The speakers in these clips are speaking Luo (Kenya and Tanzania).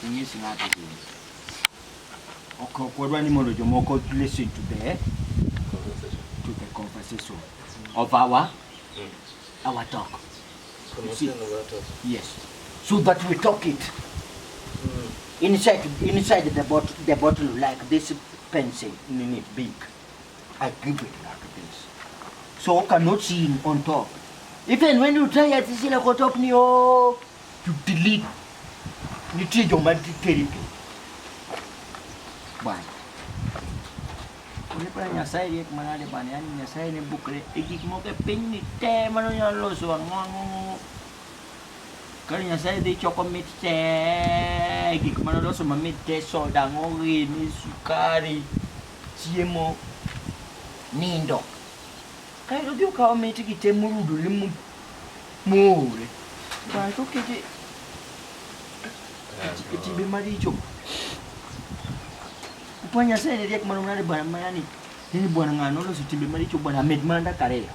Inyis ng'ato gini. Ok ok wadwa ni mondo jomoko listen to the to the conversation of our our talk. You see? Yes. So that we talk it inside inside the bottle the bottle like this pencil nini big. I give it like this. So you cannot see him on top. Even when you try at this like on top, you oh, delete. You change your mind territory. Bwana. Ulipala nyasaye yek manade bwana, yani nyasaye ne bukre ikik moke piny ni te mano nyalo loso ang'o Kane Nyasaye dhi choko mit te, gik mane oloso mamit te, soda, ng'orini, sukari, chiemo, nindo. Kaeto odhi okawo mitgi te morudore moore. Kaeto okete e timbe maricho. Kwa Nyasaye ne riek mano mnade bwana manani. Hii bwana ng'ano oloso timbe maricho bwana med manda kariyo.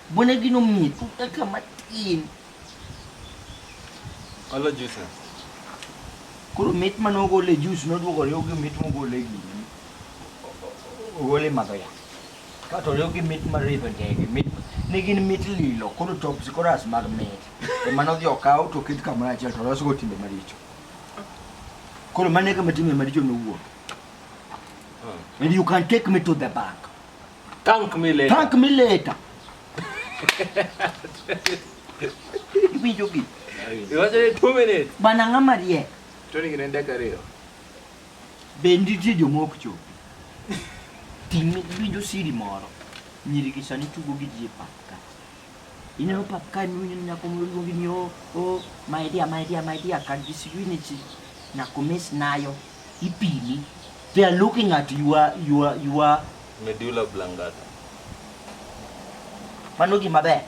Bona gino mit kaka matin. Olo juice. Koro mit mane ogole juice noduogo riw gi mit mogole gini. Ogole madho yath. Kato riw gi mit mar ridho ndege. Mit ne gin mit lilo koro tops koro as mag mit. Ema nodhi okaw to oket kamoro achiel to losgo timbe maricho. Koro mane kama timbe maricho nowuok. And you can take me to the bank. Thank me later. Thank me later. Iwinjo gi. Iwacho ni 2 minutes. Bana ng'ama riek. To ni gine dakika ariyo. Be nitie joma ok chop. Ting' iwinjo siri moro. Nyiri gi sani tugo gi ji e pap ka. Ineno pap ka ineno nyako moro luongi ni o o my dear my dear my dear can you see you need nyako miss nayo ipimi. They are looking at your your your medulla oblongata. Mano gima ber.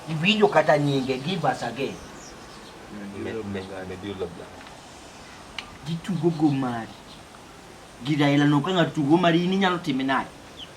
Iwinjo kata nyinge give us again. Medulla oblongata. Gitugo go mari. Giraila no ka ng'ato tugo mari in inyalo time nade?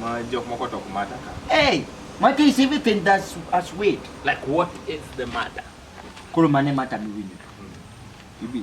Ma jok moko to ok mata ka. Hey, mata is everything that's as weight. Like what is the matter? Koro mane mata miwinjo. Hmm. Ibi.